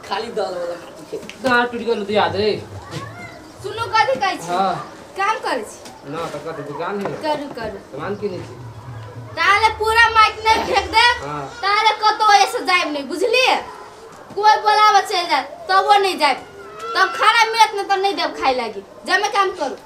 खाली दाल वाला खाती के दाल टूट गेल दिया दे सुनू कथी कहै छी हां काम करै छी ना तो कत दुकान है करू करू सामान किने छी ताले पूरा माइक नहीं फेंक दे हां ताले कतो ऐसे जाइब नहीं बुझली कोई बोलावा चल जाए तबो नहीं जाइब तब खाना मिलत नहीं तब नहीं देब खाए लागी जमे काम करू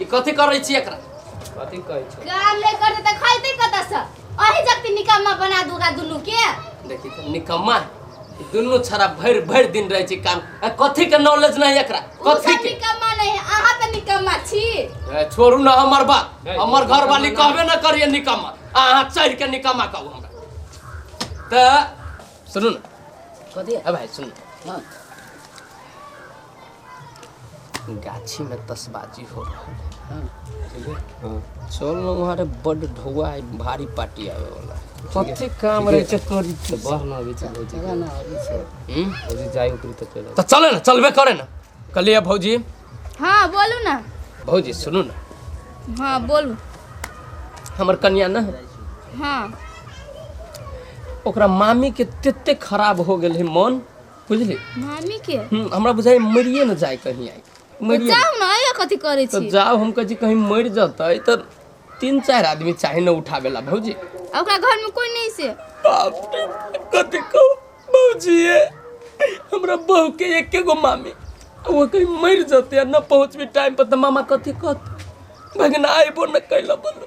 ई कथी करै छी एकरा कथी कहै छै काम नहीं करते तो खाते कता से अही जक्ति निकम्मा बना दूगा दुनू के देखी त निकम्मा ई दुनू छरा भरि भरि दिन रहै छै काम आ कथी के नॉलेज नहीं एकरा उ कथी सब के निकम्मा नहीं है अहाँ तो निकम्मा छी ए, छोड़ू ना हमर बात ए, हमर निकम्मा घरवाली ना। कहबे ना करिए निकम्मा अहाँ चढ़ के निकम्मा कहू हमरा तऽ सुनू ने कथी ए भाइ सुनू हाँ गाछी में तसबाजी हो रहल है हाँ, ठीक है हाँ। चल ना वहाँ रे बड ढोआ है भारी पार्टी आवे वाला है कथी काम रहे छै तोर तो बह ना अभी चल भौजी चला ना अभी से हम्म? भौजी जाय ऊपरी तो चल तो चले ना चलबे करे ना कहलिए भौजी हाँ बोलू ना भौजी सुनू ना हाँ बोलू हमर कन्या ना है हाँ ओकरा मामी के तते खराब हो गेल है मन बुझली मामी के हम्म, हमरा बुझाइ मरिए न जाए कहीं आई मरिए जाओ ना ये कथी करे तो छी जाओ हम कहे कहीं मर जतै तो तीन चार आदमी चाहे न उठावे ला भौजी आ ओकरा घर में कोई नहीं से बाप रे कथी कहू भौजी ये हमरा बहू के एके गो मामी आ वो कहीं मर जतै आ न पहुँचबी टाइम पर तो मामा कथी कहत भगना आइबो न कैला बोलो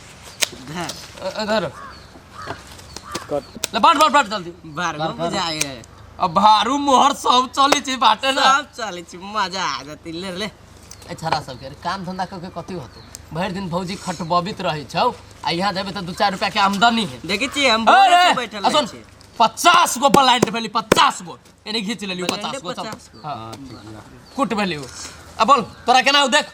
इधर ले बाट बाट बाट जल्दी भारगो बुझा गेल अब भारू मोहर सब चले छै बाटे ना सब चलै छै मजा आ जतै ले ले ए छरा सब के काम धंधा करके कथी होतो भरि दिन भौजी खटबबित रहै छौ आ यहाँ देबे तऽ दू चार रुपया के आमदनी है देखै छी हम बोले अरे, छी बैठल आ रहै सुन, छी पचास गो ब्लाइंड भेली पचास गो एने घीच लेलियो पचास गो सब हाँ, कुट भेलियो आ बोल तोरा केना हौ देख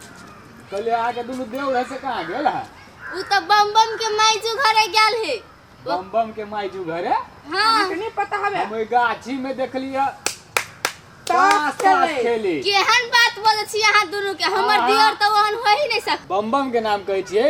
कहले आ के दुनु देव रहे से कहां गेल है उ त बम बम के माइजू घरे गेल हे बम बम के माइजू घरे हां अहाँके नहि पता हवे हम ओइ गाछी में देखली है ताश ताश खेले। खेली केहन बात बोले छी अहाँ दुनू के हमर अहाँ- दियर त ओहन हो ही नहीं सक बम बम के नाम कहै छियै